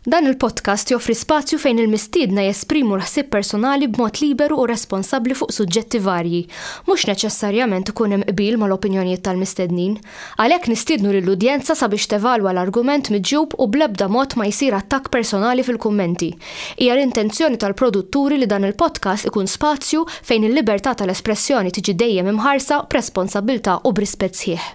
Dan il-podcast joffri spazju fejn il-mistiedna jesprimu l-ħsieb personali b'mod liberu u responsabbli fuq suġġetti varji. Mhux neċessarjament ikun hemm qbil mal-opinjonijiet tal-mistednin. Għalhekk nistiednu lill-udjenza sabiex tevalwa l-argument miġjub u bl-ebda mod ma jsir attakk personali fil-kummenti. Hija l-intenzjoni tal-produtturi li dan il-podcast ikun spazju fejn il-libertà tal-espressjoni tiġi dejjem imħarsa b'responsabbiltà u b'rispett sħiħ.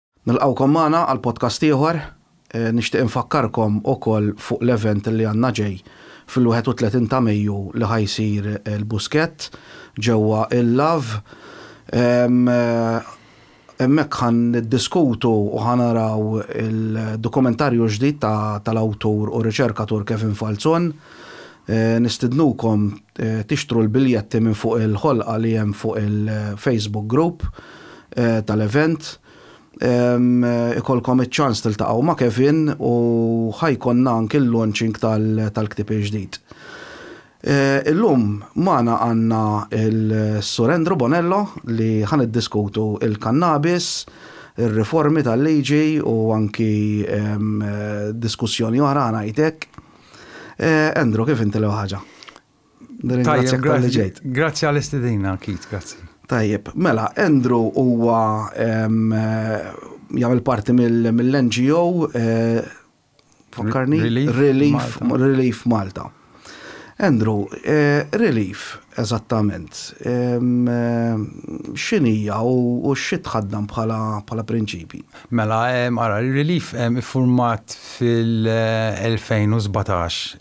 Nilqgħukom magħna għal podcast ieħor. Nixtieq infakkarkom ukoll fuq l-event li għandna ġej fil-31 ta' Mejju li ħa jsir il-Buskett ġewwa il-Lav. Hemmhekk ħa niddiskutu u ħa naraw il-dokumentarju ġdid tal-awtur u riċerkatur Kevin Falzon. Nistidnukom tixtru l-biljetti minn fuq il-ħolqa li hemm fuq il-Facebook group tal-event. Ikollkom iċ-ċans tiltaqgħu ma' Kevin u ħa jkollna anki l-launching tal-ktieb il-ġdid. Illum magħna għandna l-Sur Andrew Bonello li ħa niddiskutu l-kannabis, ir-riformi tal-liġi u anki diskussjoni oħra ħa ngħid hekk. Andrew, kif inti l-ewwel ħaġa? Tajjeb, grazzi. Grazzi għall-istedina, Kit, grazzi. Tajjeb, mela, Andrew huwa jagħmel parti mill-NGO Fakkarni? Relief, Relief Malta. Andrew, eh, relief, eżattament, xinija u xi tħaddam bħala prinċipi? Mela, ara, Relief iffurmat fil-2017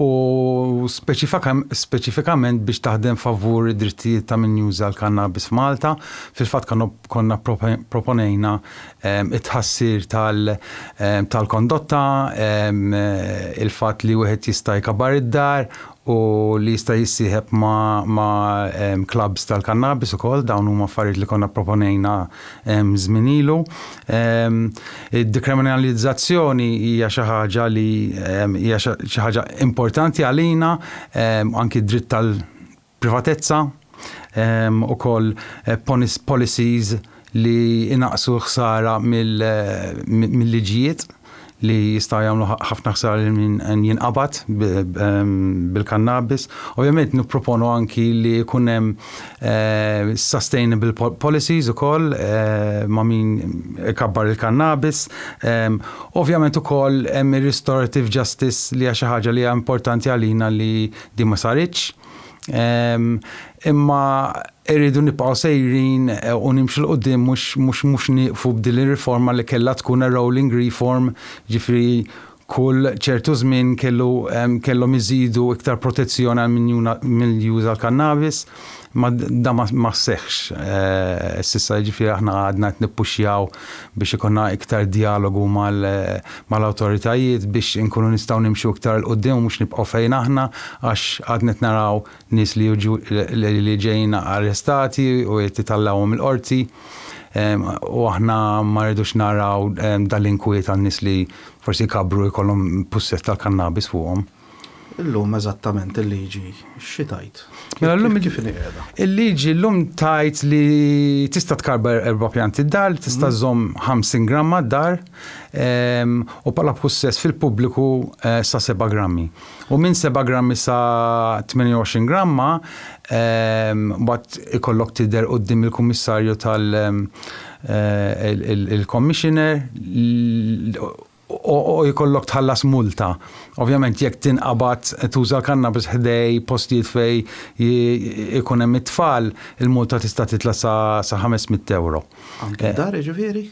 u speċifikament biex taħdem favur id-drittijiet ta' min juża l-kannabis f'Malta. Fil-fatt konna pproponejna t-tħassir tal-kondotta, il-fatt li wieħed jista' jkabbar id-dar u li jista' jissieħeb ma' clubs tal-kannabis ukoll, dawn huma affarijiet li konna pproponejna żmien ilu. Id-dekriminalizzazzjoni hija xi ħaġa li hija xi ħaġa importanti għalina, anki d-dritt tal-privatezza, ukoll policies, li jnaqqsu l-ħsara mill-liġijiet li jistgħu jagħmlu ħafna ħsara lil min jinqabad bil-kannabis. Ovvjament nipproponu anki li jkun hemm eh, sustainable policies ukoll eh, ma' min ikabbar il-kannabis. Eh, ovvjament ukoll hemm ir-restorative justice li hija xi ħaġa li hija importanti għalina li di ma saritx. Imma Irridu nibqgħu sejrin u nimxu 'l quddiem mhux mhux mhux nieqfu b'din ir-riforma li kellha tkun a rolling reform, ġifieri kull ċertu żmien kellu kellhom iżidu iktar protezzjoni għal min juna min juża l-kannabis. Ma dan ma ma seħħx s'issa jiġifieri aħna għadna qed nippuxxjaw biex ikollna iktar djalogu mal mal-awtoritajiet biex inkunu nistgħu nimxu iktar 'l quddiem u mhux nibqgħu fejn aħna għax għadna qed naraw nies li jiġu li ġejjin arrestati u qed itallgħuhom il-qorti u aħna ma rridux naraw dal-inkwiet għal nies li forsi jkabbru jkollhom pussess tal-kannabis fuqhom. Illum eżattament il-liġi xi tgħid? Mela llum kif inhi qiegħda? Il-liġi llum tgħid li tista' tkabbar erba' pjanti d-dar, tista' żżomm 50 gramma d-dar u bħala pussess fil-pubbliku sa seba' grammi. u minn 7 grammi sa 28 gramma mbagħad ikollok tidher quddiem il-Kummissarju tal il-Commissioner u jkollok tħallas multa. Ovvjament jekk tinqabad tuża l-kannabis ħdej postijiet fej ikun hemm it-tfal, il-multa tista' titla' sa 500 ewro. Anke d-dar jiġifieri?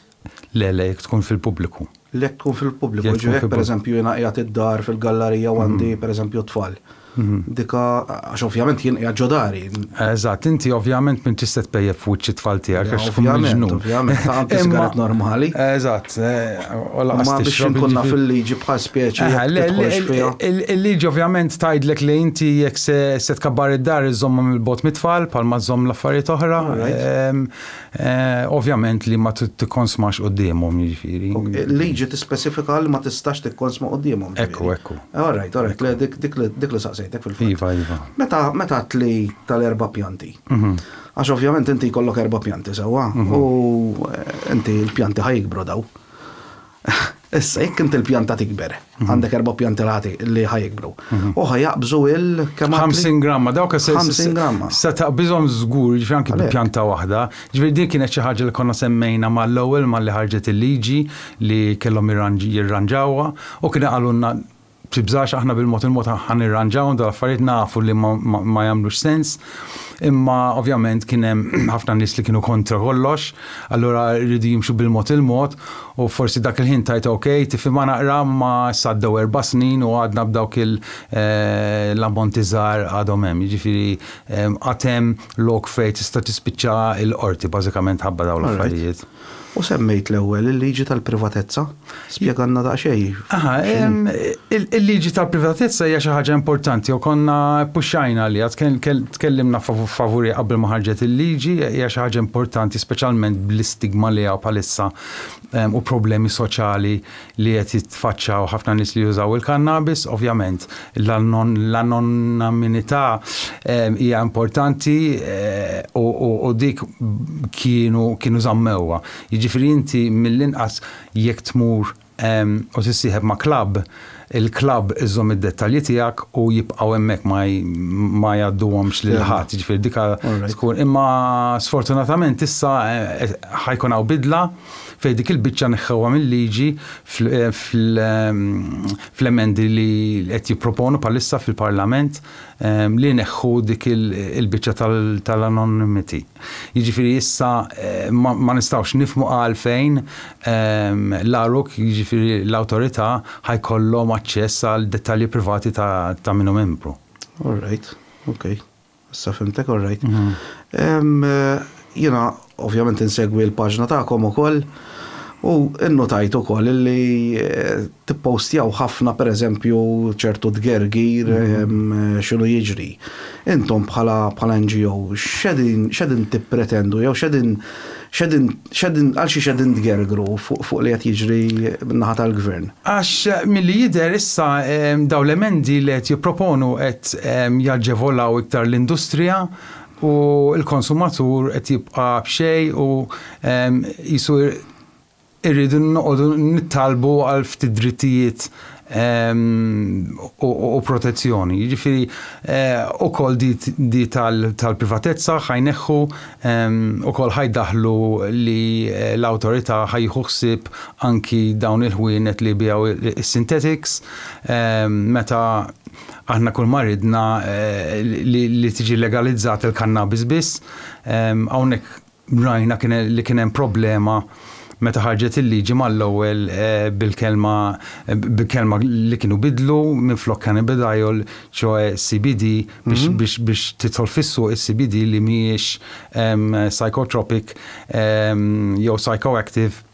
Le, le, jekk tkun fil-pubbliku. Le, jekk tkun fil-pubbliku, jiġifieri jekk pereżempju jiena qiegħed id-dar fil-gallarija u għandi pereżempju t-tfal. Dika, għax ovvjament jien qiegħed ġo dari. Eżatt, inti ovvjament m'intix se tpejjep f'wiċċ it-tfal tiegħek għax tkun miġnun. Ovvjament, ovvjament, anki sigaret normali. Eżatt, u lanqas tixrob. Biex inkun naf il-liġi bħal speċi jekk tidħolx fiha. Il-liġi ovvjament tgħidlek li inti jekk se tkabbar id-dar iżżommhom 'il bogħod mit-tfal bħalma żżomm l-affarijiet oħra. Ovvjament li ma tikkonsmax quddiemhom, jiġifieri. Il-liġi tispecifika li ma tistax tikkonsma quddiemhom. Ekku, ekku. All right, all right, dik li saqsejtek fil-fatt. Iva, iva. Meta għedt li tal-erba' pjanti. Għax ovvjament inti jkollok erba' pjanti sewwa u inti l-pjanti ħa jikbru dawn. Issa, jekk inti l-pjanta tikber, għandek erba' pjanti l-ħati li ħa jikbru. U ħa jaqbżu il kemm għad? 50 gramma, dawk se 50 gramma. Se taqbiżhom żgur, ġifieri anki bi pjanta waħda. Ġifieri din kienet xi ħaġa li konna semmejna mal-ewwel malli ħarġet il-liġi li kellhom jirranġawha u kienu qalulna Tibżax aħna bil-mod il-mod ħa nirranġawhom dal-affarijiet nafu li ma jagħmlux sens, imma ovvjament kien hemm ħafna nies li kienu kontra kollox, allura rridu jimxu bil-mod il-mod u forsi dak il-ħin tajt ok, tifhimha naqra ma issa għaddew erba' snin u għadna b'dawk l-ammonti żgħar għadhom hemm. Jiġifieri għad hemm lok fejn tista' tispiċċa l-qorti bażikament ħabba dawn l-affarijiet. U semmejt l-ewwel il-liġi tal-privatezza. Spjegalna daqsxejn. Aha, il-liġi tal-privatezza hija xi ħaġa importanti u konna ppuxxajna li tkellimna favuri qabel ma ħarġet il-liġi hija xi ħaġa importanti speċjalment bl-istigma li hawn bħalissa u problemi soċjali li qed jitfaċċaw ħafna nies li jużaw il-kannabis. Ovvjament, l-anonimità ehm, hija importanti eh, u dik kienu kienu żammewha. Jiġifieri inti mill-inqas jekk tmur ehm, u tissieħeb ma' klabb, il-klabb iżżomm id-dettalji tiegħek u jibqgħu hemmhekk ma jgħadduhomx lil ħadd, jiġifieri dika tkun. Imma sfortunatament issa eh, ħajkun hawn bidla Fejn dik il-biċċa neħħewha mil-liġi fl-emendi li qed jipproponu bħalissa fil-Parlament li jneħħu dik il-biċċa tal-anonymity. Jiġifieri issa ma nistgħux nifhmu għalfejn l-għaruk, jiġifieri l-awtorità, ħajkollhom aċċess għal dettalji privati ta' min hu membru. All right, ok. Issa fimtek all right. Jiena ovvjament insegwi l-paġna tagħkom ukoll u nnutajt ukoll li eh, tippostjaw ħafna pereżempju ċertu tgergir mhm. x'inhu jiġri. Intom bħala bħala NGO x'edin x'edin tippretendu jew x'edin x'edin Għal xiex qegħdin tgergru fuq li qed jiġri min-naħa tal-Gvern? Għax milli jidher issa dawn l-emendi li qed jipproponu qed jaġevolaw iktar l-industrija u l-konsumatur qed jibqa' b'xejn u qisu irridu noqogħdu nittallbu għal ftit drittijiet u protezzjoni. Jiġifieri ukoll di tal-privatezza ħajneħħu ukoll ħajdaħħlu li l-awtorità ħajjieħu ħsieb anki dawn il-ħwienet li jbiegħu s-sintetiks meta aħna kull ma ridna li tiġi legalizzata l-kannabis biss. Hawnhekk Rajna li kien hemm problema meta ħarġet il-liġi mal-ewwel bil-kelma bi kelma li kienu bidlu minflok cannabidiol, ċoe CBD biex biex biex tidħol fis-suq is-CBD li mhijiex psychotropic jew psychoactive.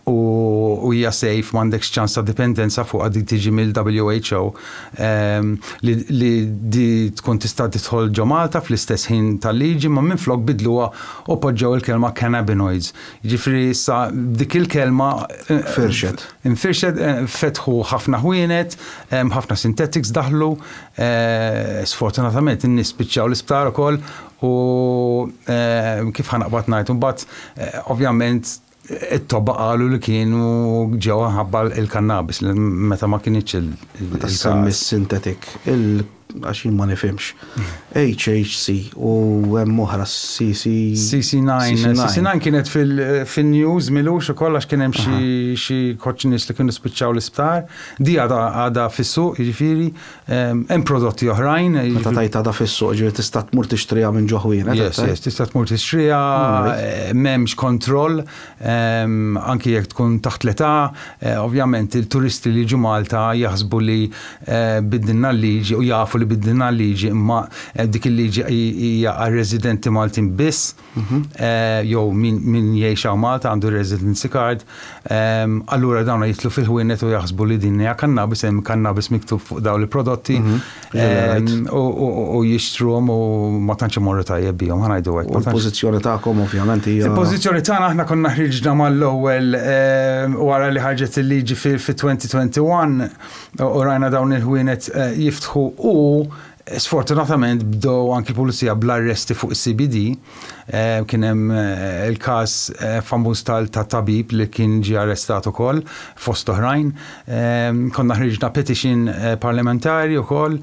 u hija safe m'għandekx ċans ta' dipendenza fuqha dik tiġi mill-WHO ehm, li, li di tkun tista' tidħol ġo Malta fl-istess ħin tal-liġi ma minflok bidluha u poġġew il-kelma cannabinoids. Jiġifieri issa dik il-kelma eh, Infirxet. infirxet eh, fetħu ħafna ħwienet, ehm, ħafna synthetics daħlu, eh, sfortunatament in-nies spiċċaw l-isptar ukoll U kif ħa naqbad ngħid, imbagħad ovvjament it-tobba qalu li kienu ġew ħabba l-kannabis meta ma kinitx il semmi sintetik, għax jien ma nifhimx. HHC u hemm oħra CC. CC9. CC9 kienet fil-news milux ukoll għax kien hemm xi koċċ nies li kienu spiċċaw l-isptar. Di għadha fis-suq, jiġifieri Hemm prodotti oħrajn. Meta tajt għadha fis-suq, ġifieri tista' tmur tixtriha minn ġo ħwienet. Yes, yes, tista' tmur tixtriha, m'hemmx kontroll, anki jekk tkun taħt l-età, ovvjament il-turisti li jiġu Malta jaħsbu li biddilna l-liġi u jafu li biddilna l-liġi imma dik il-liġi hija għar-residenti Maltin biss. jew min jgħix hawn Malta għandu residency card, allura dawn jitlu fil-ħwienet u jaħsbu li din hija kannabis, hemm kannabis miktub fuq dawn il-prodotti mhm. u jixtruhom u ma tantx imorru tajjeb bihom ħanajdu hekk. Il-pożizzjoni tagħkom ovvjament hija. Il-pożizzjoni tagħna aħna konna ħriġna mal-ewwel wara li ħarġet il-liġi fi-2021 u rajna dawn il-ħwienet eh, jiftħu u Sfortunatament bdew anki l-Pulizija bl-arresti fuq is-CBD. Kien hemm il-każ famuż tal-tabib li kien ġie arrestat ukoll fost oħrajn. Konna ħriġna petition parlamentari wkoll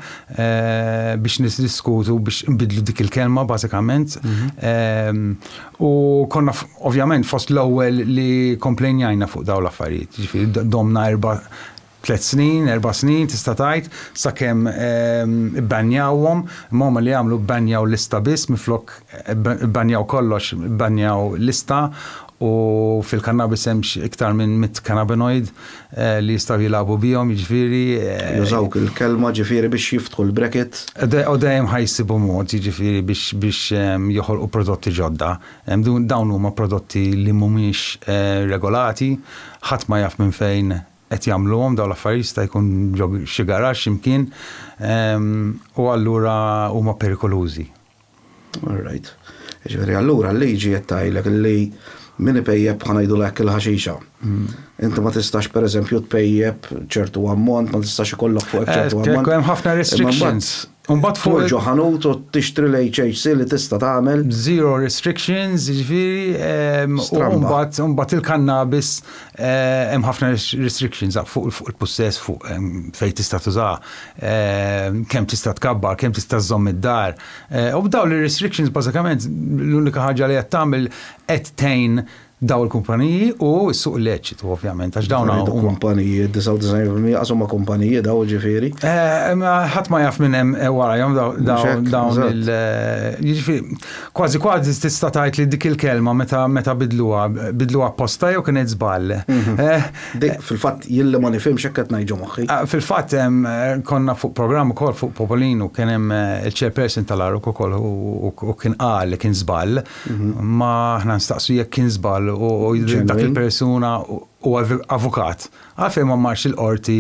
biex niddiskutu biex inbiddlu dik il-kelma bażikament. U konna ovvjament fost l-ewwel li komplejnjajna fuq dawn l-affarijiet. Jiġifieri domna erba' Tliet snin, erba' snin tista' tgħid, sakemm ibbanjawhom. Imma huma li għamlu bbanjaw lista biss minflok ibbanjaw kollox, ibbanjaw lista u fil-kannabis hemm iktar minn mitt cannabinoid li jistgħu jilagħbu bihom, jiġifieri. Jużawk il-kelma ġifieri biex jiftħu l-bracket. U dejjem ħa jsibu mod jiġifieri biex joħolqu prodotti ġodda. Dawn huma prodotti li mhumiex regolati, ħadd ma jaf minn fejn qed jagħmluhom dawn l-affarijiet jista' jkun ġo xi garaxx xi mkien u allura huma perikolużi. All right. Jiġifieri allura l-liġi qed tgħidlek li min ipejjep ħa ngħidulha hekk il-ħaxixa. Inti ma tistax pereżempju tpejjep ċertu ammont, ma tistax ikollok fuqek ċertu ammont. Hemm ħafna restrictions. Imbagħad fuq. Tmur ġo ħanut u tixtri l-HHC li tista' tagħmel. Zero restrictions, jiġifieri, u mbagħad mbagħad il-kannabis hemm ħafna restrictions fuq il-pussess fuq fejn tista' tuża, kemm tista' tkabbar, kemm tista' żżomm id-dar. U b'dawn ir-restrictions bażikament l-unika ħaġa li qed tagħmel qed tgħin dawn il-kumpaniji u s-suq illeċitu ovvjament għax dawn huma kumpaniji, 99% qas huma kumpaniji daw ġifieri. Eh, ħadd ma jaf minn hemm eh, warajhom dawn il eh, jiġifieri kważi kważi tista' tgħid li dik il-kelma meta meta bidluha bidluha apposta jew kienet żball. Mhm. Dik fil-fatt jien li ma nifhimx hekk qed ngħidu moħħi. Ah, fil-fatt konna fuq programm ukoll fuq Popolinu kien hemm il-chairperson tal-Aruk ukoll u kien qal li kien żball Ma aħna nstaqsu jekk kien żball u dak il-persuna u avukat. Għalfejn ma marx il-qorti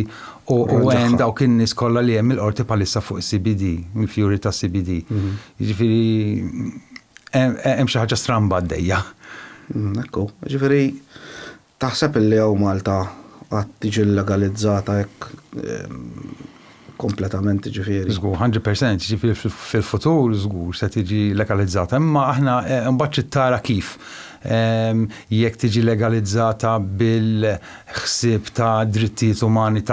u għen dawk in-nies kollha li hemm il-qorti bħalissa fuq CBD, il-fjuri ta' CBD. Mhm. Ġifieri hemm xi ħaġa stramba għaddejja. Mhm, ekku, ġifieri Taħseb li hawn Malta qatt tiġi llegalizzata hekk kompletament jiġifieri? Żgur, hundred percent, jiġifieri fil-futur żgur se tiġi legalizzata imma aħna imbagħad trid tara kif. Jekk tiġi legalizzata bil-ħsieb ta' drittijiet umani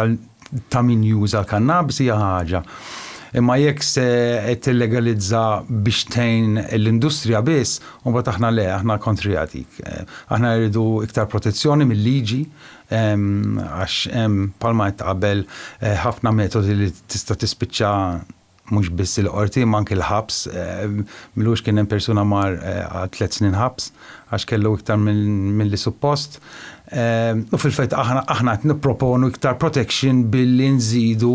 ta' min juża l-kannabis hija ħaġa, imma jekk se tillegalizza biex tgħin l-industrija biss, imbagħad aħna le, aħna kontrija dik. Aħna rridu iktar protezzjoni mil-liġi għax hemm bħalma għedt qabel ħafna metodi li tista' tispiċċa Mhux biss il-Qorti imma anki l-ħabs. Milux kien hemm persuna mar għal tliet snin ħabs għax kellu iktar milli suppost. U fil-fett aħna aħna qed nipproponu iktar protection billi nżidu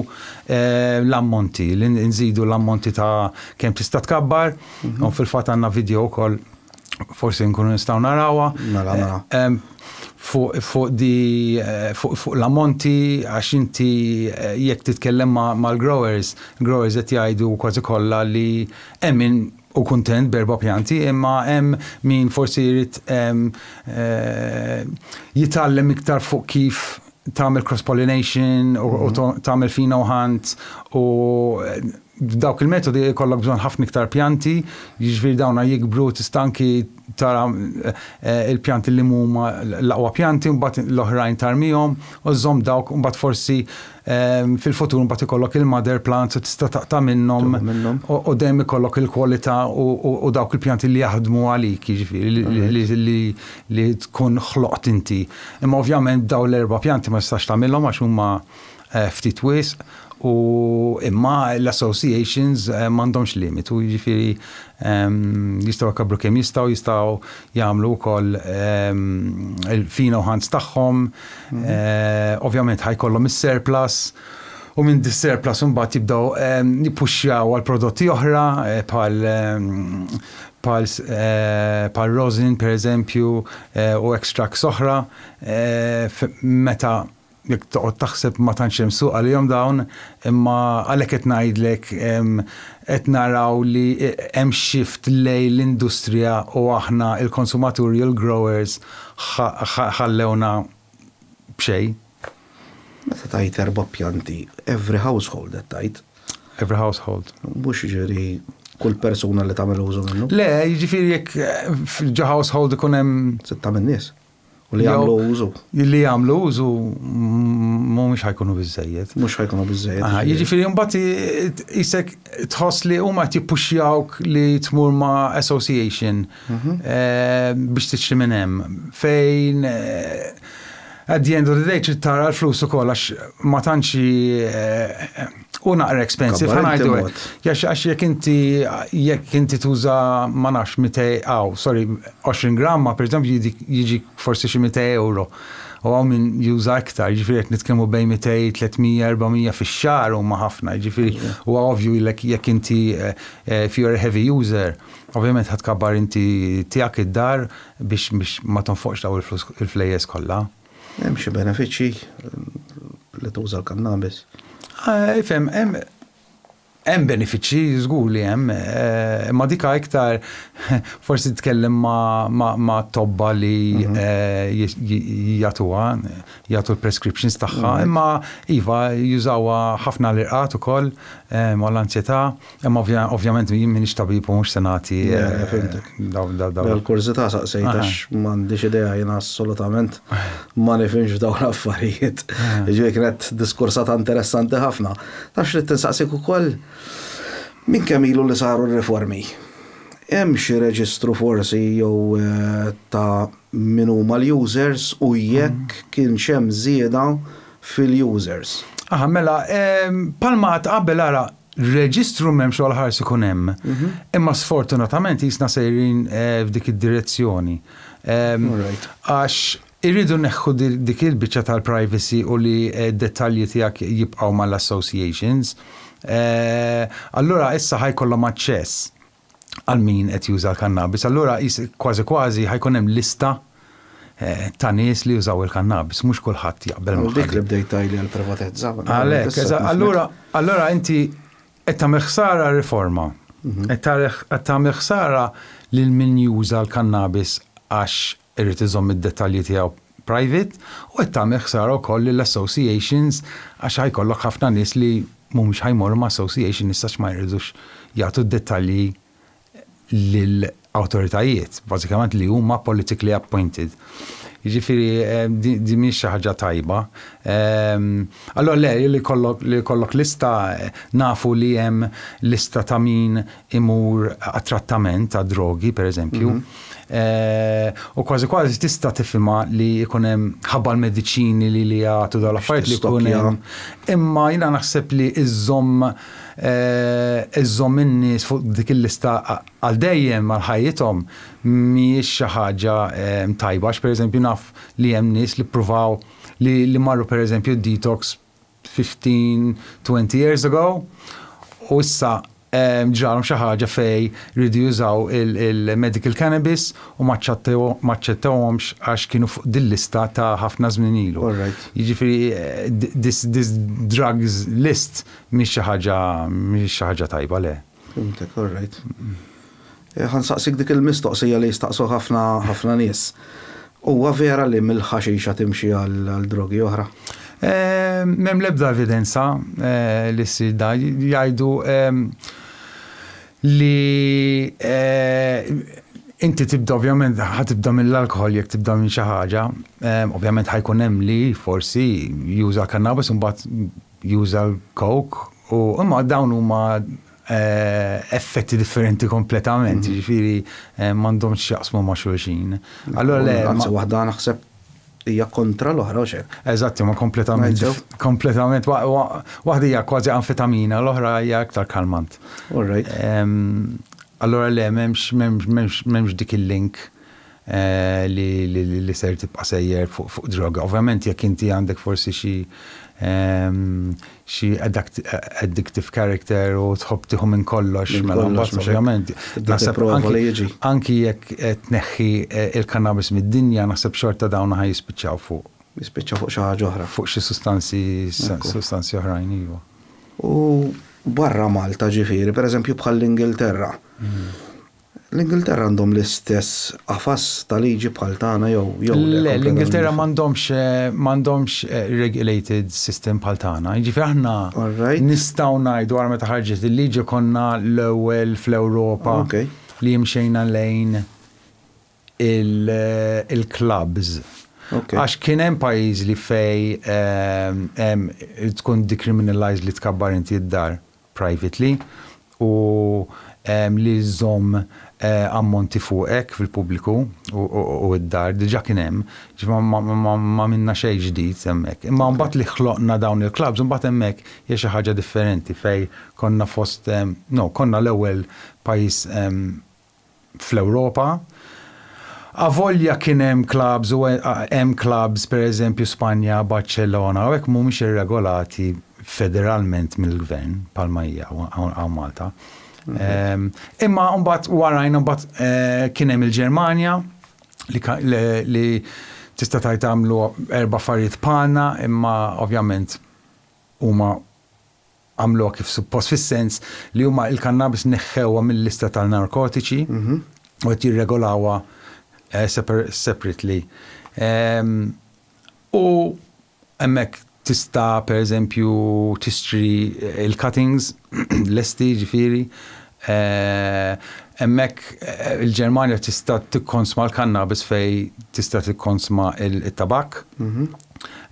l-ammonti, li nżidu l-ammonti ta' kemm tista' tkabbar. U fil-fatt għandna video wkoll forsi nkunu nistgħu narawha. Mela, mela. Eh, fuq fu di eh, fuq fu l-ammonti għax inti eh, jekk titkellem mal-growers, growers qed jgħidu kważi kollha li hemm min u kuntent berba pjanti, imma hemm min forsi jrid jitgħallem iktar fuq kif tagħmel cross pollination u mhm. tagħmel fina u ħant u B'dawk il-metodi jkollok bżonn ħafna iktar pjanti, jiġifieri dawna jikbru tista' anki tara l-pjanti li huma l-aqwa pjanti mbagħad l-oħrajn tarmihom u żżomm dawk u mbagħad forsi fil-futur mbagħad ikollok il-mother plants u tista' taqta' minnhom u dejjem ikollok il-kwalità u dawk il-pjanti li jaħdmu għalik jiġifieri li tkun ħloqt inti. Imma ovvjament dawn l-erba' pjanti ma tistax tagħmilhom għax huma ftit wisq u imma l-associations m'għandhomx limitu, jiġifieri jistgħu jkabbru kemm jistgħu, jistgħu jagħmlu wkoll il-fina u ħans tagħhom, ovvjament ħa jkollhom is-surplus u minn dis-surplus imbagħad jibdew jippuxxjaw għal prodotti oħra bħal bħal rosin pereżempju u extracts oħra meta jekk toqgħod taħseb ma tantx hemm suq għalihom dawn, imma għalhekk qed ngħidlek qed naraw li hemm shift lejn l-industrija u aħna l-konsumaturi u l-growers ħallewna b'xejn. Meta tgħid erba' pjanti, every household qed tgħid? Every household. Mhux jiġifieri kull persuna li tagħmel użu minnu? Le, jiġifieri jekk ġo household ikun hemm. Sitta min-nies. U li jagħmlu użu. Li jagħmlu użu mhumiex ħajkunu biżejjed. Mhux ħajkunu biżejjed. Jiġifieri mbagħad isek tħoss li huma qed jippuxjawk li tmur ma' association mhm. eh, biex tiċċi minn hemm fejn eh, at the end of the day tara l-flus ukoll għax ma tantx eh, U naqra expensive, Kabbar inti ħanajdu mod. Jax għax jekk inti jekk inti tuża ma nafx 200 aw, sorry, 20 gramma, per eżempju jidik- jiġi forsi xi 200 euro. U hawn min juża iktar, jiġifieri qed nitkellmu bejn 200, 300, 400 fix-xahar huma ħafna, jiġifieri huwa ovvju jillek jekk inti eh, eh, if you're a heavy user, ovvjament ħadd kabbar inti tiegħek id-dar biex biex ma tonfoqx daw il-flus il-flejjes kollha. Hemm xi benefiċċji li tuża l-kannabis? Ifhem, hemm hemm benefiċċji żgur li hemm, eh, imma dika iktar forsi tkellem ma' tobba li mhm. eh, jagħtuha, jagħtu l-prescriptions tagħha, mhm. imma iva jużawha ħafna l-irqat ukoll eh, ma' l-ansjetà, Imma ovvjament jien m'iniex tabib u mhux se nagħti. L-kurżità saqsejt għax m'għandix idea jiena assolutament ma nifhimx f'dawn l-affarijiet. Jiġifieri kienet diskursata interessanti ħafna. Taf x'rid insaqsik ukoll? Minn kemm ilu li saru r-riformi? Hemm xi reġistru forsi jew ta' min huma l-users u jekk kienx hemm żieda fil-users? Aha, mela, bħalma għadt qabel ara, Reġistru m'hemmx u għall-ħars ikun hemm. Imma sfortunatament jisna sejrin eh, f'dik id-direzzjoni. Ehm, għax irridu neħħu dik il-biċċa tal-privacy u li eh, dettalji tiegħek jibqgħu mal-associations. Eh, allura issa ħajkollhom aċċess. għal min qed juża l-kannabis, allura qis kważi kważi ħa jkun hemm lista ta' nies li jużaw il-kannabis, mhux kulħadd jaqbel ma' ħadd. Dik li bdejt tgħidli għall-privatezza. Għalhekk, allura, allura inti qed tagħmel ħsara riforma. Mhm. Qed tagħmel ħsara lil min juża l-kannabis għax Irid iżomm id-dettalji tiegħu private u qed tagħmel ħsara wkoll lill-associations għax ħa jkollok ħafna nies li mhumiex ħa jmorru ma' association issa għax ma jridux jagħtu d-dettalji lil awtoritajiet, bażikament li huma politically appointed. Jiġifieri din mhijiex xi ħaġa tajba. Allura le, li jkollok lista nafu li hemm lista ta' min imur għat-trattament ta' drogi, per eżempju, mhm. u kważi kważi tista' tifhimha li jkun hemm ħabba l-mediċini li li jagħtu dal affarijiet li jkun hemm. Imma jiena naħseb li iżżomm iżżomm in-nies fuq dik il-lista għal dejjem għal ħajjithom mhijiex xi ħaġa tajba, għax pereżempju naf li hemm nies li ppruvaw li marru pereżempju detox 15, 20 years ago u issa ġralhom xi ħaġa fejn riedu jużaw il-medical cannabis u ma aċċettewhomx għax kienu fuq din lista ta' ħafna żmien ilu. Jiġifieri this drugs list mhix xi ħaġa mhix xi ħaġa tajba le. Fhimtek, all right. Ħa nsaqsik dik il-mistoqsija li jistaqsuh ħafna ħafna nies. Huwa vera li mill-ħaxixa timxi għal drogi oħra? M'hemm l-ebda evidenza li ssir dan. Jgħidu li inti tibda ovvjament ħa tibda mill-alkoħol jekk tibda minn xi ħaġa. Ovvjament ħajkun hemm li forsi juża kannabis imbagħad juża l-coke u imma dawn huma effetti differenti kompletament, jiġifieri m'għandhomx x'jaqsmu ma' xulxin. Allura le. Anzi waħda naħseb hija kontra l-oħra u x'hekk. Eżatt, huma kompletament kompletament waħda hija kważi anfetamina, l-oħra hija iktar kalmant. Allura le, m'hemmx m'hemmx m'hemmx m'hemmx dik il-link. li ser tibqa' sejjer fuq droga. Ovvjament jekk inti għandek forsi xi xi addictive character u tħobb tieħu minn kollox, mela mbagħad ovvjament naħseb anki jekk tneħħi l-kannabis mid-dinja naħseb xorta dawn ħa jispiċċaw fuq. Jispiċċaw fuq xi ħaġa oħra. Fuq xi sustanzi sustanzi oħrajn, iva. U barra Malta ġifieri, pereżempju bħall-Ingilterra, L-Ingilterra għandhom l-istess qafas ta' liġi bħal tagħna jew jew le? Le, l-Ingilterra m'għandhomx m'għandhomx regulated system bħal tagħna. Jiġifieri aħna nistgħu ngħidu ara meta ħarġet il-liġi konna l-ewwel fl-Ewropa li mxejna lejn il-clubs. Għax kien hemm pajjiżi li fejn hemm tkun decriminalized li tkabbar inti d-dar. privately u li żżomm ammonti fuqek fil-pubbliku u d-dar diġà kien hemm, jiġifieri m'għamilna xejn ġdid hemmhekk. Imma mbagħad li ħloqna dawn il-klabbs imbagħad hemmhekk hija xi ħaġa differenti fejn konna fost, no, konna l-ewwel pajjiż fl-Ewropa. Avolja kien hemm clubs u hemm clubs pereżempju Spanja, Barċellona, hawnhekk mhumiex irregolati federalment mill-gvern bħalma hija hawn Malta. Ehm, imma mbagħad warajna mbagħad eh, kien hemm il-Ġermanja li tista' tajt għamlu erba' affarijiet bħalna, imma ovvjament huma għamluha kif suppost fis-sens li huma l-kannabis neħħewha mil-lista tal-narkotiċi u qed jirregolawha separately. U hemmhekk tista' pereżempju tixtri l-cuttings lesti ġifieri Hemmhekk il-Ġermanja tista' tikkonsma l-kannabis fejn tista' tikkonsma t-tabakk.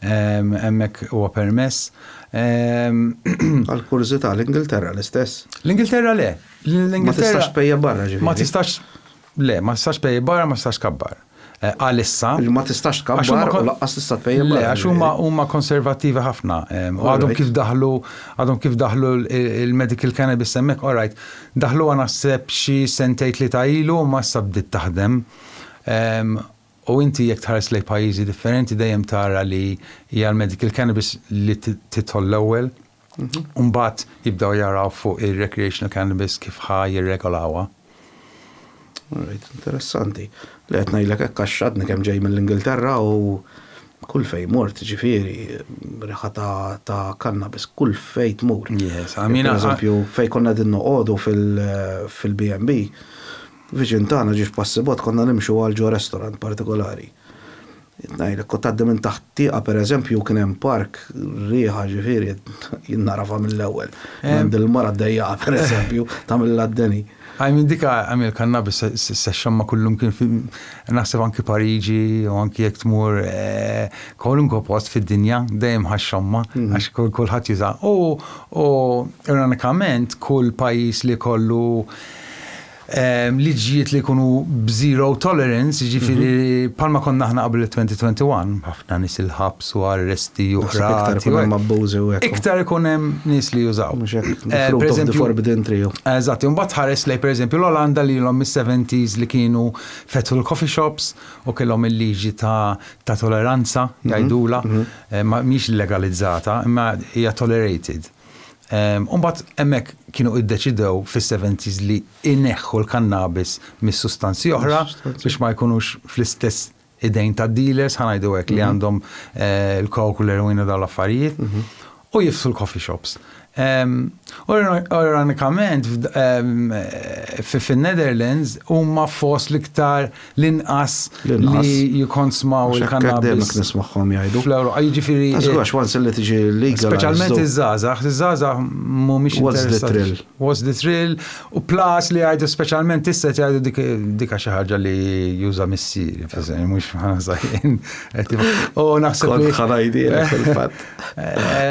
Hemmhekk huwa permess. Għal kurżità, l-Ingilterra l-istess? L-Ingilterra le. Ma tistax tpejjep barra ġifieri. Ma tistax, le, ma tistax tpejjep barra, ma tistax tkabbar. għalissa. Li ma tistax tkabbar u laqqas tista' tpejjep. Le, għax huma huma konservattivi ħafna. Għadhom kif daħlu għadhom kif daħlu l-medical cannabis hemmhekk, all right. Daħluha naħseb xi sentejn tlieta ilu imma issa bdiet taħdem. U inti jekk tħares lejn pajjiżi differenti dejjem tara li hija l-medical cannabis li tidħol l-ewwel. U mbagħad jibdew jaraw fuq ir-recreational cannabis kif ħa jirregolawha. Alright, interessanti. Li qed ngħidlek hekk għax għadni kemm ġej mill-Ingilterra u kull fejn mort, ġifieri, riħa ta' cannabis kull fejn tmur. Yes, I mean. Pereżempju, fejn konna qegħdin noqogħdu fil-B&B, viċin tagħna ġiex passi bot konna nimxu għal ġo restaurant partikolari. Ngħidlek, kont tgħaddi minn taħt tieqa pereżempju kien hemm park, riħa ġifieri jien nagħrafha mill-ewwel. Kien hemm din il-mara ddejjaqa pereżempju tagħmilha d-deni. I mean dik I mean il-kannabis se xxamma' kullimkien fi naħseb anki Pariġi jew anki jekk tmur kwalunkwe post fid-dinja dejjem ħa xxamma' għax kulħadd juża. U ironikament kull pajjiż li jkollu liġijiet li jkunu b'zero tolerance, jiġifieri bħalma konna aħna qabel it-2021, ħafna nies il-ħabs u arresti u qrati. Iktar ikun hemm abbużi u hekk. Iktar ikun hemm nies li jużaw. Mhux hekk, fruit of the forbidden tree. Eżatt, u mbagħad tħares lejn pereżempju l-Olanda li ilhom mis-seventies li kienu fetħu l-coffee shops u kellhom il-liġi ta' toleranza jgħidulha, mhix legalizzata, imma hija tolerated. U mbagħad hemmhekk kienu iddeċidew fis-70s li ineħħu l-kannabis mis-sustanzi oħra biex ma jkunux fl-istess idejn ta' dealers ħanajdu hekk li mhm. għandhom eh, l-kok u l-erwina dawn l-affarijiet mhm. u jifsu l-coffee shops. Ironikament, fin-Netherlands huma fost l-iktar l-inqas li jikonsmaw il-kannabis. Nismagħhom jgħidu. Fl-Ewropa, jiġifieri. Għax once li tiġi legal. Speċjalment iż-żgħażagħ, iż-żgħażagħ mhumiex interessati. What's the thrill? What's the thrill? U plus li jgħidu speċjalment issa jgħidu dik xi ħaġa li juża missier, mhux ħażajn. U naħseb li. Ħanajdi fil-fatt.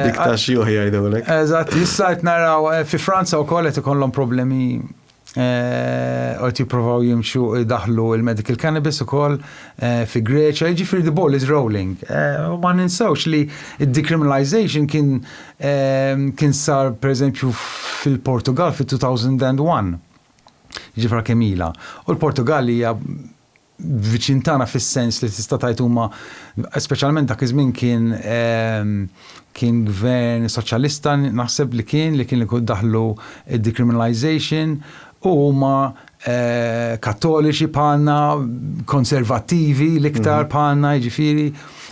Dik ta' xjuħ jgħidulek. Eżatt, issa qed naraw eh, fi Franza wkoll qed ikollhom problemi qed jippruvaw jimxu jdaħlu il-medical cannabis ukoll eh, fi Greċja, jiġifieri the ball is rolling. Eh, u ma ninsawx li d-decriminalization kien eh, kien sar pereżempju fil-Portugal fit-2001. Ġifra kemila. U l-Portugal hija viċin tagħna fis-sens li tista' tgħid huma speċjalment dak iż-żmien kien kien gvern soċjalista naħseb li kien li kien li daħlu decriminalization u huma kattoliċi bħalna konservattivi l-iktar bħalna jiġifieri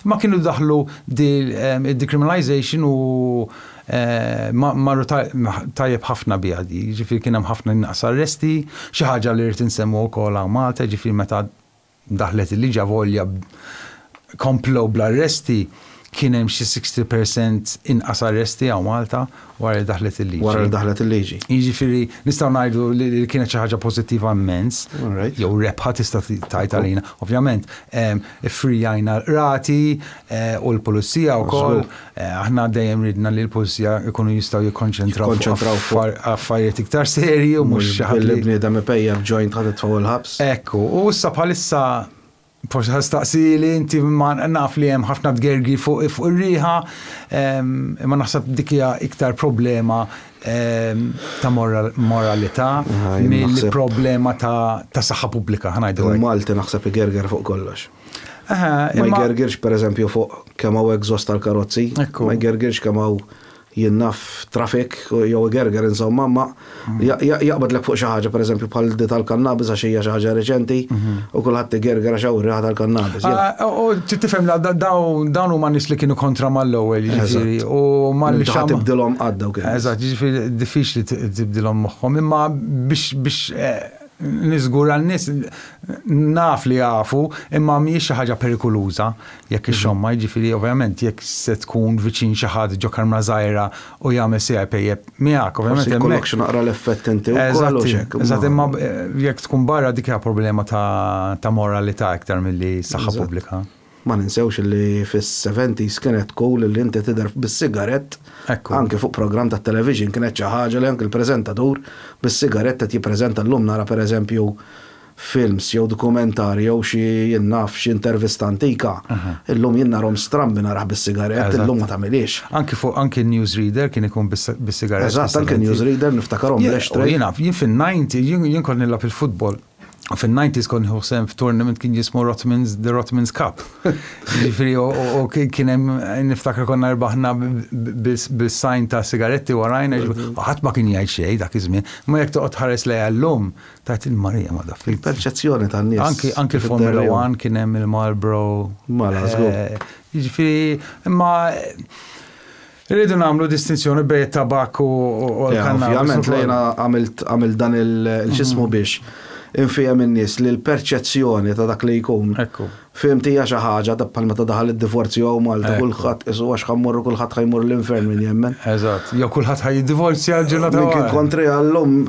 ma kienu daħlu decriminalization u Marru tajjeb ħafna biha di, jiġifieri kien hemm ħafna inqas arresti, xi ħaġa li rrid insemmu wkoll hawn Malta, jiġifieri meta daħlet il-liġi avolja komplew bl-arresti, kien hemm xi 60 percent inqas arresti hawn Malta wara li daħlet il-liġi. Wara li daħlet il-liġi. Jiġifieri nistgħu ngħidu li kienet xi ħaġa pożittiva mmens, jew rebħa tista' tgħid għalina. Ovvjament, iffrijajna l-qrati u l-pulizija wkoll. Aħna dejjem ridna li l-pulzija jkunu jistgħu jikkonċentraw Jikkonċentraw fuq- fuq affarijiet iktar serji u mhux xi ħadd Billi li bniedem ipejjep joint ħa titfgħu l-ħabs. Ekku, u issa bħalissa forsi ħa staqsieli inti ma naf li hemm ħafna tgergir fuq fuq ir-riħa, ehm, imma naħseb dik hija iktar problema ehm, ta' moral- moralità Ah, jien milli naħseb- problema ta' ta' saħħa pubblika, ħa ngħidu hekk. Il-Malti naħseb igerger fuq kollox. Ma jgergirx pereżempju fuq kemm hawn exhaust tal-karozzi, ma jgergirx kemm hawn jinnaf traffic jew igerger insomma, imma jaqbadlek fuq xi ħaġa pereżempju bħal di tal-kannabis għax hija xi ħaġa reċenti u kulħadd igerger għax hawn ir-riħa tal-kannabis. U trid tifhem li dawn huma nies li kienu kontra mal-ewwel, jiġifieri, u ma li xi ħadd. Tista' tibdilhom qatt dawk in-nies. Eżatt, jiġifieri diffiċli tibdilhom moħħhom, imma biex Niżgura n-nies naf li jafu, imma mhijiex xi ħaġa perikuluża jekk ixxommha, jiġifieri ovvjament jekk se tkun viċin xi ħadd ġo karmra żgħira u jagħmel se jpejjep miegħek, ovvjament hemmhekk. Forsi jkollok xi naqra l-effett inti wkoll u x'hekk. Eżatt, imma jekk tkun barra dik hija problema ta' moralità iktar milli saħħa pubblika. Ma ninsewx li fis-seventies kienet cool li inti tidher bis-sigarett, anke fuq programm tat-television kienet xi ħaġa li anke l-preżentatur bis-sigarett qed jippreżenta llum nara pereżempju films jew dokumentarji jew xi jien naf xi intervista antika illum jien narhom strambi narah bis-sigarett illum ma tagħmilhiex. Anke fuq anke newsreader kien ikun bis-sigarett. Eżatt anke newsreader niftakarhom bl-ashtray. Jien fin-ninety jien kont nilgħab il-futbol fin-90s kont nieħu sehem f'tournament kien jismu Rotmans the Rotmans Cup. Jiġifieri u kien hemm niftakar konna rbaħna bis-sajn ta' sigaretti warajna ħadd ma kien jgħid xejn dak iż-żmien. Ma jekk toqgħod tħares lejha llum tgħid il-Marija ma daf. Il-perċezzjoni tan-nies. Anki anki Formula 1 kien hemm il-Marlboro. Mala żgur. Jiġifieri imma Irridu nagħmlu distinzjoni bejn it-tabakk u l-kannabis. Ovvjament lejna għamil dan il-ġismu mhm. biex infihem in-nies li l-perċezzjoni ta' dak li jkun. Fim tija xi ħaġa ta' bħal meta daħal id-divorzju hawn Malta kulħadd isu għax ħammorru kulħadd ħajmur l-infern min jemmen. Eżatt, jew kulħadd ħaj divorzja ġilha ta' kien kontri għallum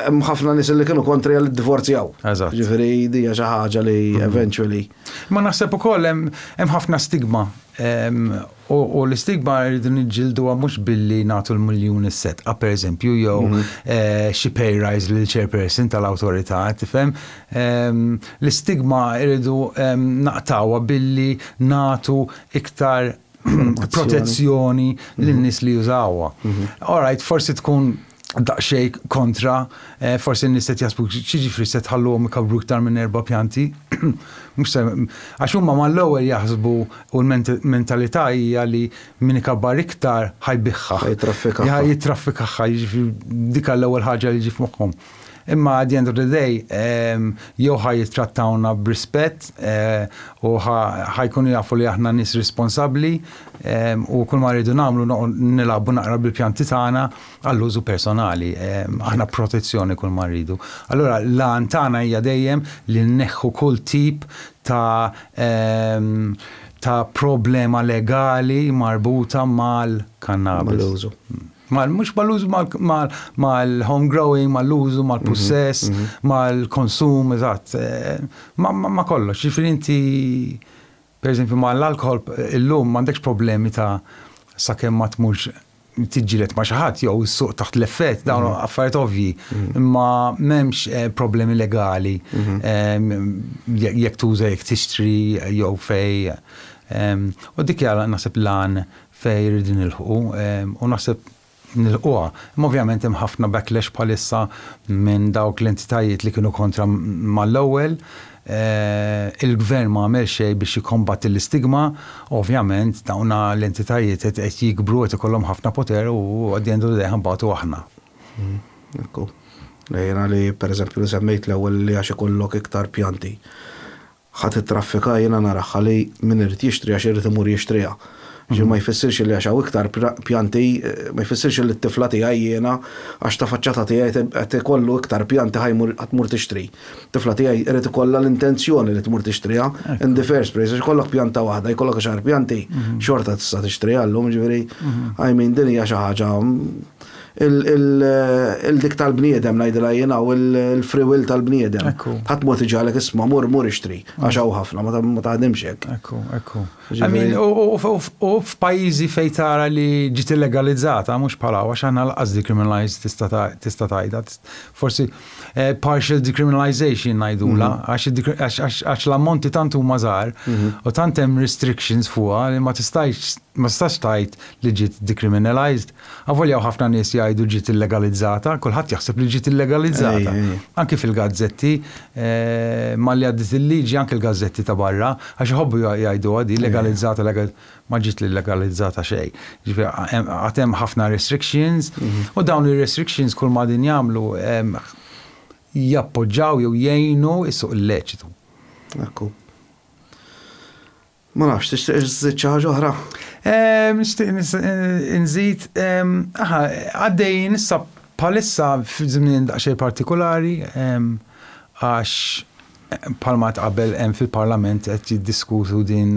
hemm ħafna nies li kienu kontri għal divorzjaw. Eżatt. Ġifieri dija xi ħaġa li mhm. eventually. Ma naħseb ukoll hemm ħafna stigma U l-istigma rridu niġġilduha mhux billi nagħtu l-miljun is-setqa pereżempju jew mhm. xi pay rise lil chairperson tal-awtorità, tifhem? L-istigma rridu naqtawha billi nagħtu iktar protezzjoni lin-nies li jużawha. Mhm. Alright, forsi tkun daqsxejn kontra, forsi n-nies qed jaħsbu x'jiġifieri se tħalluhom ikabbru iktar minn erba' pjanti? Mhux se għax huma mal-ewwel jaħsbu u l-mentalità hija li min ikabbar iktar ħa jbiħha. Ħa jittraffikaha. Ħa jittraffikaha, jiġifieri dik hi l-ewwel ħaġa li tiġi f'moħħhom. Imma at the end of the day, jew ħa jittrattawna b'rispett u ħa jkunu jafu li aħna nies responsabbli u kulma rridu nagħmlu nilagħbu naqra bil-pjanti tagħna, għall-użu personali, aħna protezzjoni kull ma rridu. Allura l-għan tagħna hija dejjem li nneħħu kull tip ta' ta' problema legali marbuta mal-kannabis. Mal-użu. Mhux mal-użu mal-home growing, mal-użu, mal-pussess, mal-konsum, eżatt. Ma kollox, ġifieri inti Pereżempju ma' l-alkoħol illum m'għandekx problemi ta' sakemm ma tmurx tiġġieled ma' xi ħadd jew issuq taħt l-effett dawn mm-hmm. affarijiet ovvji, mm-hmm. imma m'hemmx eh, problemi legali mm-hmm. eh, jekk tuża jekk tixtri jew fej. U dik jara naħseb lan fej rridin ilħu u naħseb nilħquha. Imma ovvjament hemm ħafna backlash bħalissa minn dawk l-entitajiet li kienu kontra mal-ewwel. Il-Gvern ma għamel xejn biex jikkombatti l-istigma. Ovvjament dawn l-entitajiet qed jikbru, qed ikollhom ħafna poter u at the end of the day ħanbatu aħna. Ekku. Jiena li pereżempju li semmejt l-ewwel li għax ikollok iktar pjanti. Ħa tittraffika jiena nara ħalli min irid jixtriha xi jrid imur jixtriha. Xi ma jfissirx illi għax hawn iktar pjanti ma jfissirx illi t-tifla tiegħi jiena għax ta' faċċata tiegħi qed ikollu iktar pjanti ħa jmur ħa tmur tixtri. Tifla tiegħi irid ikollha l-intenzjoni li tmur tixtriha in the first place għax ikollok pjanta waħda jkollok għaxar pjanti xorta tista' tixtriha llum jiġifieri I mean din hija xi ħaġa il-dik tal-bniedem ngħidilha jiena u l-free will tal-bniedem. Ħadd mod iġalek isma' mur mur ixtri għax hawn ħafna ma taħdimx hekk. Ekku, ekku. U f'pajjiżi fejn tara li ġiet illegalizzata mhux bħal hawn għax aħna lanqas decriminalized tista' tgħidha. Forsi eh, partial decriminalization ngħidula mhm. għax l-ammonti tant huma żgħar mhm. u tant hemm restrictions fuqha li ma tistax ma tistax tgħid li ġiet decriminalized. Avolja hawn ħafna nies jgħidu ġiet illegalizzata, kulħadd jaħseb li ġiet illegalizzata. Anki fil-gazzetti, eh, malli għaddit il-liġi anki l-gazzetti ta' barra, għax iħobbu jgħidu għadi legalizzata, ma ġiet legalizzata xejn. Ġifieri għad hemm ħafna restrictions mhm. u dawn ir-restrictions kull ma din jagħmlu jappoġġaw jew jgħinu is-suq illeċitu. Ekku. Ma nafx, tixtieq iżżid xi ħaġa oħra? Nixtieq nżid, aha, għaddejjin issa bħalissa f'żmien daqsxejn partikolari għax bħalma qabel hemm fil-Parlament qed jiddiskutu din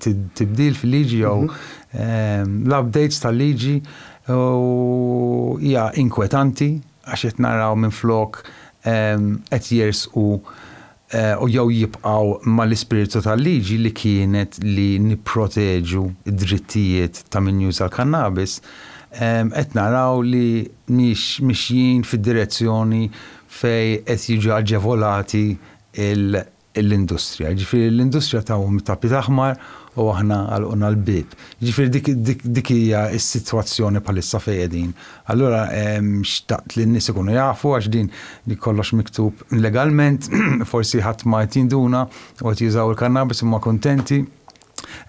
tibdil fil-liġi jew mhm. l-updates tal-liġi u hija inkwetanti għax qed naraw minn flok qed jersqu u jew jibqgħu mal-ispirtu tal-liġi li kienet li nipproteġu d-drittijiet ta' min juża l-kannabis, qed naraw li mhix mixjin fid-direzzjoni fejn qed jiġu aġevolati l-industrija. Jiġifieri l-industrija tawhom it-tapit aħmar u aħna għalqulna l-bieb. Jiġifieri dik hija s-sitwazzjoni bħalissa fejn qegħdin. Allura xtaqt li n-nies ikunu jafu għax din kollox miktub legalment, forsi ħadd ma qed jinduna u qed jużaw il-kannabis huma kuntenti.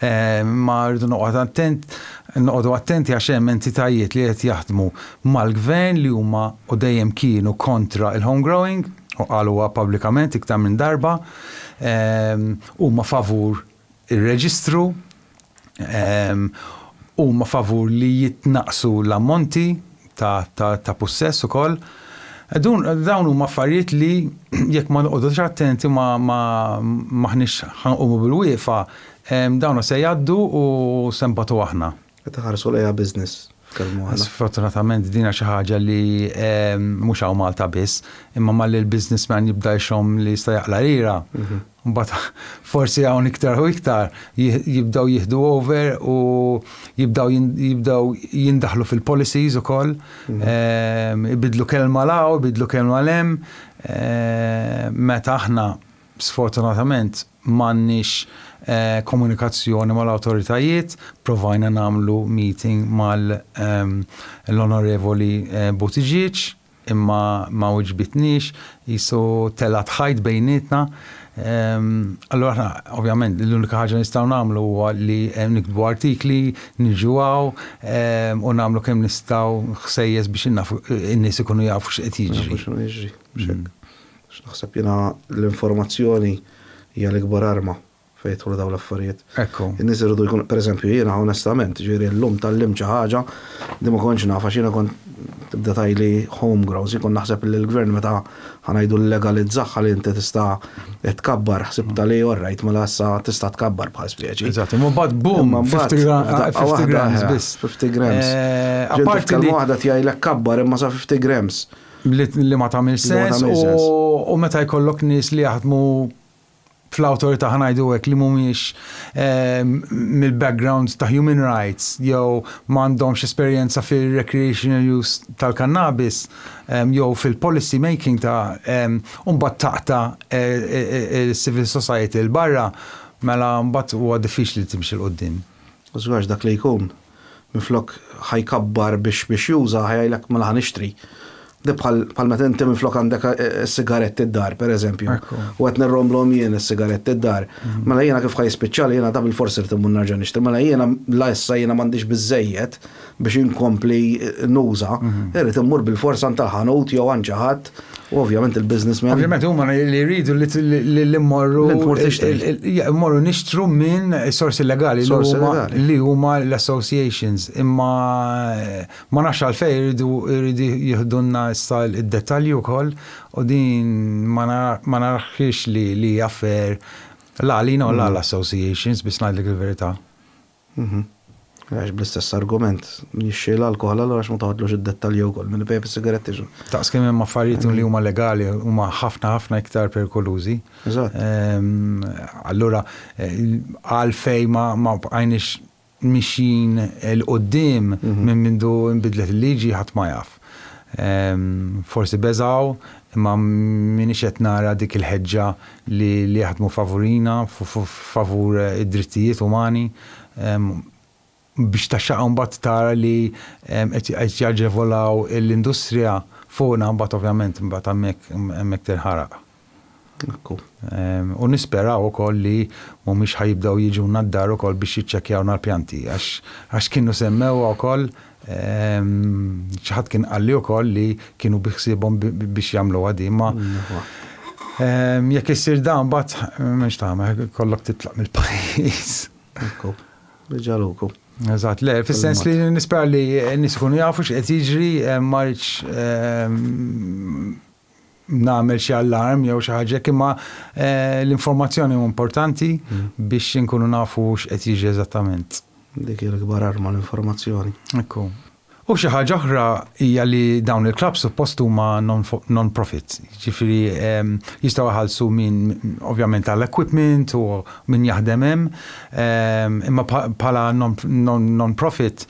Imma rridu noqgħod attent, noqogħdu attenti għax hemm entitajiet li qed jaħdmu mal-Gvern li huma u dejjem kienu kontra il-home growing u qaluha pubblikament iktar minn darba. Huma favur ir-reġistru, huma favur li jitnaqqsu l-ammonti ta' pussess ukoll. Dawn huma affarijiet li jekk ma noqogħdux attenti m'aħniex ħa nqumu bil-wieqfa, dawn se jgħaddu u se nbatu aħna. Qed iħarsu lejha business f'Kelm waħda. Sfortunatament din hija xi ħaġa li mhux hawn Malta biss, imma malli l-businessman jibda jxomm li jista' jaqla' lira, mbagħad forsi hawn iktar u iktar jibdew jieħdu over u jibdew jindaħlu fil-policies ukoll, ibidlu kelma 'l hawn, ibidlu kelma 'l hemm, meta aħna sfortunatament M'għandniex komunikazzjoni mal-awtoritajiet, provajna nagħmlu meeting mal l-Onorevoli Buttigieg imma ma wiġbitniex, qisu telgħet ħajt bejnietna. Allura aħna ovvjament l-unika ħaġa li nistgħu nagħmlu huwa li niktbu artikli, niġu hawn u nagħmlu kemm nistgħu ħsejjes biex in-nies ikunu jafu x'qed jiġri. X'naħseb jiena, l-informazzjoni hija l-ikbar arma fejn jidħlu dawn l-affarijiet. Ekku. In-nies iridu jkunu, per eżempju, jiena onestament, jiġifieri llum tgħallimt xi ħaġa li ma kontx naf għax jiena kont, tibda tgħidli home grows, jien kont naħseb li l-Gvern meta, ħa ngħidu llegalizzah ħalli inti tista' tkabbar, ħsibtha li all right, mela issa tista' tkabbar bħal speċi. Eżatt, imma mbagħad boom, 50 grams biss. 50 grams. Apparti li. Kelma waħda tgħidlek kabbar imma sa 50 grams. li ma tagħmilx sens u meta jkollok nies li jaħdmu fl-awtorità ħanajdu hekk li mhumiex ehm, mill-background ta' human rights jew m'għandhomx esperjenza fir-recreational use tal-kannabis ehm, jew fil-policy making ta' ehm, mbagħad taqta' eh, eh, eh, il-civil society l barra mela mbagħad huwa diffiċli timxi l-qudiem. Żgħax dak li jkun minflok ħa jkabbar biex biex juża ħa jgħidlek mela ħa nixtri. Di bħal bħal meta inti minflok għandek is-sigaretti d-dar pereżempju, u qed nirromblhom jien is-sigaretti d-dar, mela jiena kif ħa jispiċċali jiena ta' bilfors irid immur nerġa' nixtri. Mela jiena la issa jiena m'għandix biżżejjed biex inkompli nuża, irid immur bilfors għand tal-ħanut jew għand xi ħadd U ovvjament il-businessmen. Ovvjament huma li jridu li mmorru. Mmorru nixtru minn sorsi legali li huma l-associations. Imma ma nafx għalfej jridu jridu jihdunna issa id-dettalji wkoll u din ma naraħx li jaffer la għalina u la l-associations biex ngħidlek il-verità. Mhmm. Għax bl-istess argument, min jixtri l-alkoħol allura għax ma toħodlux id-dettalji wkoll, min ibejgħ bis-sigaretti x'hu? Daqs kemm hemm affarijiet li huma legali huma ħafna ħafna iktar perikolużi. Eżatt. Allura għalfejn ma bqajniex mixjin 'l quddiem minn mindu nbidlet il-liġi ħadd ma jaf. Forsi beżgħu, imma m'iniex qed nara dik il-ħeġġa li jaħdmu favurina, favur id-drittijiet umani, biex taxxaqqa mbagħad tara li qed jaġevolaw l-industrija fuqna mbagħad ovvjament mbagħad hemmhekk tinħaraq. U nisperaw ukoll li mhumiex ħa jibdew jiġuna d-dar ukoll biex jiċċekkjawna l-pjanti għax għax kienu semmewha wkoll xi ħadd kien qalli wkoll li kienu biħsiebhom biex jagħmluha din ma jekk issir dan mbagħad m'hemmx tagħmel kollok titlaq mill-pajjiż. Ekku. Reġa' luku. Eżatt, le, fis-sens li nispera li n-nies ikunu jafu x'qed jiġri ma rridx nagħmel xi allarm jew xi ħaġa imma l-informazzjoni hu importanti biex inkunu nafu x'qed jiġi eżattament. Dik hija l-ikbar arma l-informazzjoni. Ekku. U xi ħaġa oħra hija li dawn il-klabb suppost huma non-profit, ġifieri jistgħu jħallsu min ovvjament għall-equipment u min jaħdem hemm, imma bħala non-profit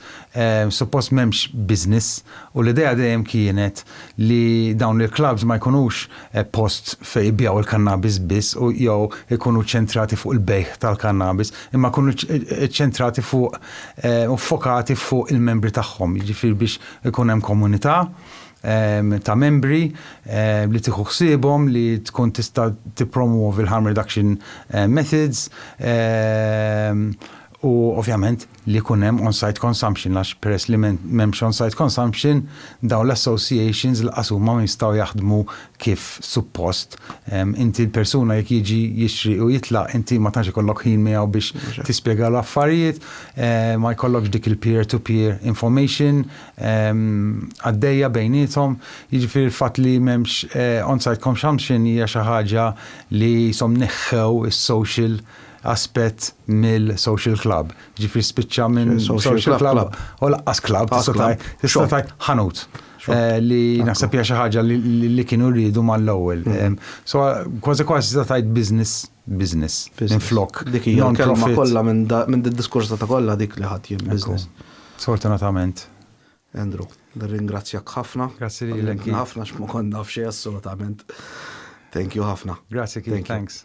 suppost m'hemmx business U l-idea dejjem kienet li dawn il-klabbs ma jkunux post fejn ibigħu l-kannabis biss u jew ikunu ċċentrati fuq il-bejgħ tal-kannabis, imma jkunu ċċentrati fuq u ffokati fuq il-membri tagħhom, jiġifieri biex ikun hemm komunità ta' membri li tieħu ħsiebhom, li tkun tista' tippromwovi l-harm reduction methods u ovvjament li jkun hemm on-site consumption għax peress li m'hemmx on-site consumption dawn l-associations lanqas huma ma jistgħu jaħdmu kif suppost. Inti l-persuna jekk jiġi jixtri u jitlaq inti ma tantx ikollok ħin miegħu biex tispjegalu affarijiet, ma jkollokx dik il-peer to peer information għaddejja bejniethom, jiġifieri l-fatt li m'hemmx on-site consumption hija xi ħaġa li qishom neħħew is-social aspett mill-social club. Ġifri spiċċa minn social club u laqqas club tista' tajt ħanut eh, li naħseb hija xi ħaġa li kienu rridu mal-ewwel. Mm-hmm. So kważi kważi tista' tajt business business minn flok. Dik hija kelma kollha minn id-diskors ta' kollha dik li ħadd jien business. Sfortunatament. Andrew, nirringrazzjak ħafna. Grazzi li ħafna x'ma konna f'xejn assolutament. Thank you ħafna. Grazzi, thanks.